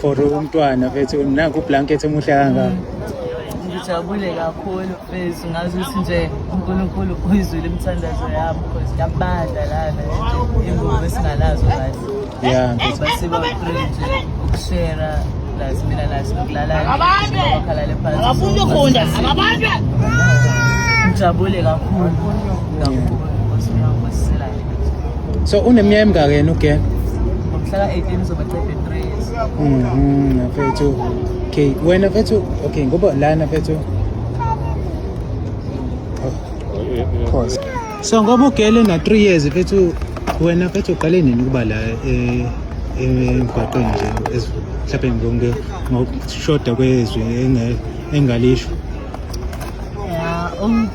for umntwana mfethu nanku ublanket omuhle kangaka ngijabule kakhulu mfethu ngazi ukuthi nje unkulunkulu uyizwile imithandazo yami because kuyabanda lana ingubo esingalazo kahle ya mfethu basiba uthule nje ukushera plus mina nathi nokulala bakhalale phansi abafuni ukufunda ababandwe ngijabule kakhulu kakhulu So uneminyaka emingaki yena uGen? Ngomhlaka 18 uzoba 33 years. Mhm, mfethu. Okay, wena mfethu, okay, ngoba lana mfethu. Of course. So ngoba ugele na 3 years mfethu, wena mfethu uqale nini ukuba la eh emgwaqeni nje mhlawumbe ngonke ngokushoda kwezwi engalisho. Yeah, um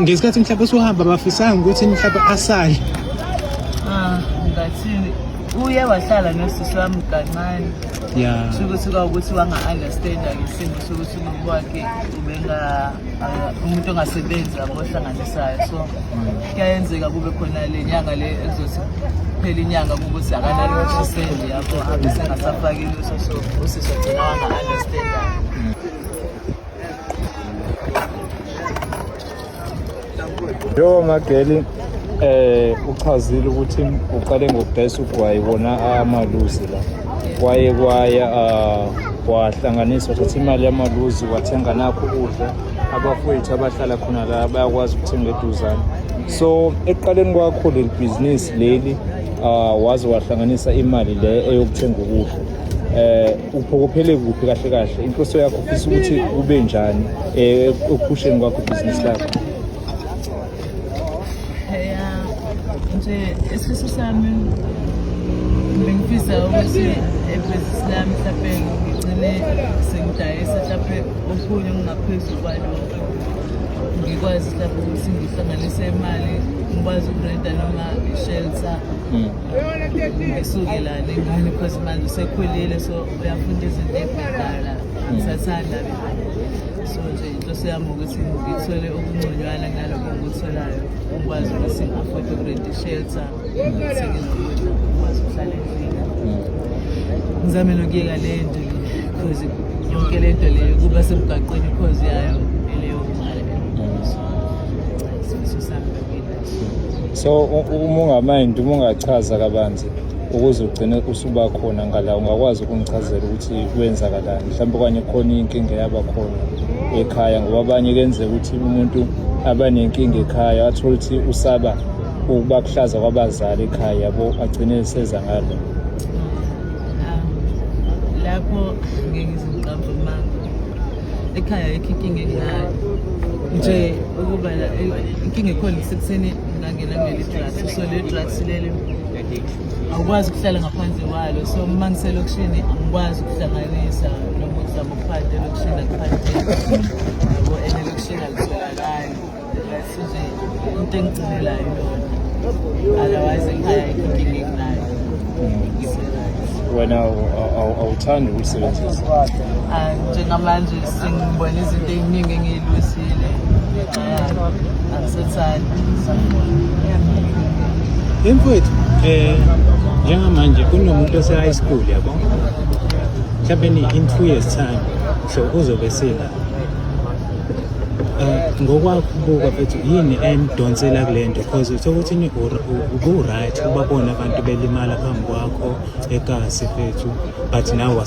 ngesikhathi mhlawumbe usuhamba bafisanga ukuthi mhlawumbe asale ah, ngathini uye wahlala nosisi wami kancane ya sukuthi kwawukuthi wanga-understanda ngesimo sokuthi umuntu wakhe ubenga uh, umuntu ongasebenzi abohlanganisayo so kuyayenzeka kube khona le nyanga le ezothi kuphela inyanga kukuthi akanaloshiseli yabo abe sengasafakile usoso usisi ogcina wanga-understanda Yo Mageli eh uchazile ukuthi uqale ngokudayisa ugwayi wona amaluzi la kwaye kwaya ah, wahlanganisa wathatha imali yamaluzi wathenga nakho ukudla abafowethu abahlala khona la bayakwazi ukuthenga eduzane so ekuqaleni kwakho leli bhizinisi leli ah, waze wahlanganisa imali le eyokuthenga ukudla eh Uphokophele kuphi kahle kahle? Inhloso yakho ufisa ukuthi kube njani eh ekuphusheni kwakho business lakho? Yeah. Nje isifiso sami bengifisa ukuthi ebhizinisi lami mhlawumbe ngigcine sengidayisa mhlawumbe okunye okungaphezulu kwalokho ngikwazi mhlawumbe ukuthi ngihlanganise imali ngikwazi ukurenta noma i-shelter mm. ngisukelane ngane because manje sekhulile so uyafunda izinto ebhedala ngisathanda so nje inhloso yami ukuthi ngithole okungconywana nalokho ngikutholayo ngikwazi ukuthi ngi-afford ukurent i-shelter ngithenge nokudla ngikwazi ukuhlala endlini ngizame nokuyeka le nto le because yonke le nto leyo kuba semgaqweni ikhozi yayo eleyo mali isifiso sami so uma ungamind uma ungachaza kabanzi ukuze ugcine usuba khona ngala ungakwazi ukungichazela ukuthi kwenzakalani mhlawumbe okanye khona inkinga yaba khona ekhaya ngoba abanye kenzeka ukuthi umuntu abanenkinga ekhaya athole ukuthi usaba ukuba kuhlaza kwabazali ekhaya yabo agcine eseza ngalo ah, lapho ngeke ngizoqamba ekhaya ayikho inkinga enginayo nje ukuba inkinga ekhona isekuseni ngangena kuleli drugs so leli drugs leli awukwazi ukuhlala ngaphandle kwalo so uma ngiselokishini angikwazi ukuhlanganisa noma ukuzama ukuphatha elokishini akuphatheki yabo and elokishini alitholakali into engigcinelayo otherwise ekhaya inkinga enginayo wena awuthandi ukuyisebenzisa ah, njengamanje sengibona izinto ey'ningi engiyilwisile ngenxa yalo angisethandi yini mfowethu um njengamanje kunomuntu ose-high school yabo mhlawumbe in two years time so uzobe sila Eh, ngokwakubuka futhi yini emdonsela kule nto because uthe ukuthi ubu-right ubabona abantu belimala phambi kwakho ekasi fethu but nawe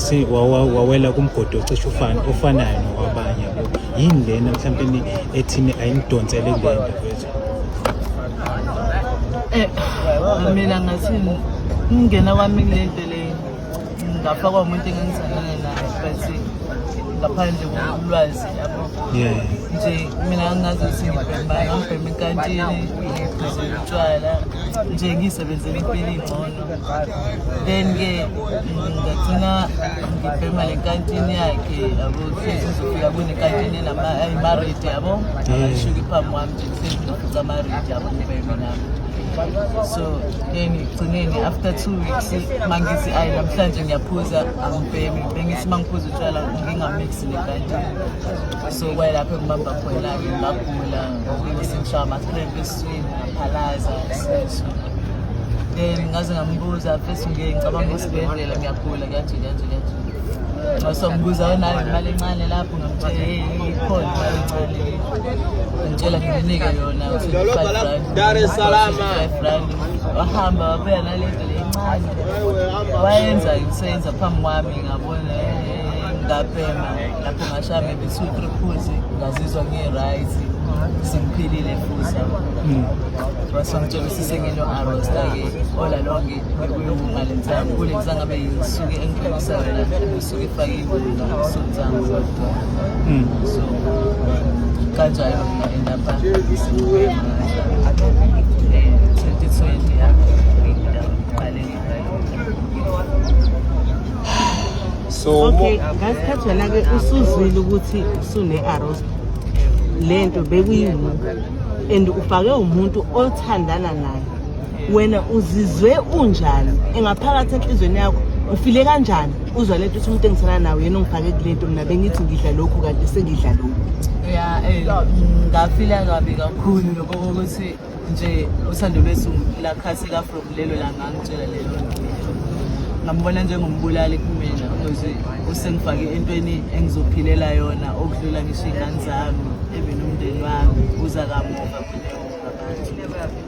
wawela kumgodi ocishe ofanayo nokwabanye yabo yini lena mhlawumbe ethini ayimdonsele kule nto fethu um mina ngathi ngingena kwami kule nto ngafakwa umuntu engangithandane naye but ngaphandle kolwazi yabo nje mina angazi ukuthi ngibhema ngibhema enkantini ngiphuze utshwala nje ngiyisebenzela impilo ingcono then-ke ngagcina ngibhema le nkantini yakhe yabo kusizofika kunekantini enamarate yabo ashuke phambi kwami nje so then ekugcineni after two weeks mangithi ayi namhlanje ngiyaphuza angibhemi bengithi mangiphuza utshwala ngingamixi nekati so kwayelapho engibamba khona-ke ngagula ngokuyisingishawa ama-cramp esiswini ngaphalaza isisu then ngaze ngambuza first ngike ngicabanga esibhedlela ngiyagula Kuyajika jika jika. Ngasombuza onayo imali encane lapho ngamtshela hey ikhona imali encane. Ngitshela nginike yona uthi 5 rand. Dar es Salaam. 5 rand. Wahamba wabuya nalento lencane. Wayenza ngisenza phambi kwami ngabona ngapema lapho ngashame bisu triphuzi ngazizwa ngi-right simphilile futhi wasongitshela usisengino-arostake olalonge so okay ngasikhathi wena ke usuzwile ukuthi usune arrows lento bekuyini and ufake umuntu othandana naye wena uzizwe unjani engaphakathi enhlizweni yakho ufile kanjani uzwa lento uthi umuntu engisana nawo yena ongifake kulento mina bengithi ngidla lokhu kanti sengidla lokhu ya eh, ngafila kabi kakhulu lokho kokuthi nje uthando lwethu lakhatheka from lelo langa ngitshela lelo ngambona njengombulali kumina ukuthi usengifake entweni engizophilela yona okudlula ngisho iy'ngane zami even umndeni wami uza kamuva kuneoabantu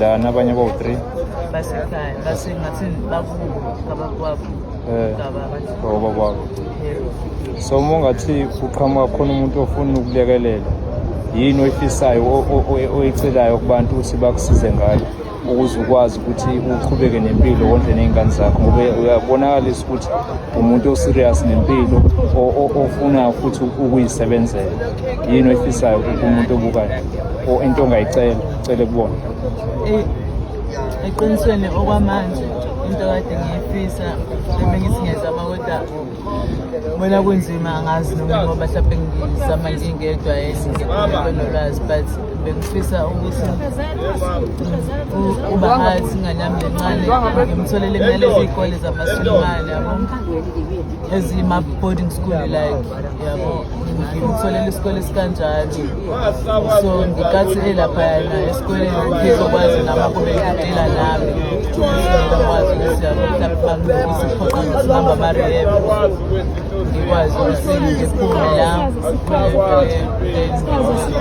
lana abanye bawu-three basekhaya basengathi bakubo kabakwabo baba kwabo so uma ungathi uqhamuka khona umuntu ofuna ukulekelela yini oyifisayo oyicelayo kubantu ukuthi bakusize ngayo ukuze ukwazi ukuthi uqhubeke nempilo wondle ney'ngane zakho ngoba uyabonakalisa ukuthi umuntu oserious nempilo ofuna futhi ukuyisebenzela yini oyifisayo kumuntu obukayo or into ongayicela cele kubona eh, eqinisweni okwamanje into kade ngiyifisa ebengizingezama kodwa bona kunzima angazi noma ngoba mhlawumbe ngizama ngingedwa enolwazi but bengifisa ukuthi ubahathi ingane yami lencane ngimtholele imali eziy'kole zamasulumane yabo ezima-boarding school like yabo ngimtholele isikole esikanjalo so ngikathi elaphayana esikoleni ngizokwazi nami kube ngidela nami ngizokwazi ukuthi yabo mhlawumbe bangibukise phoqa ngisimamba amarehab ngikwazi ukuthi ngiphume la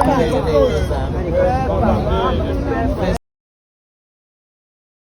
ngiqhubekele zami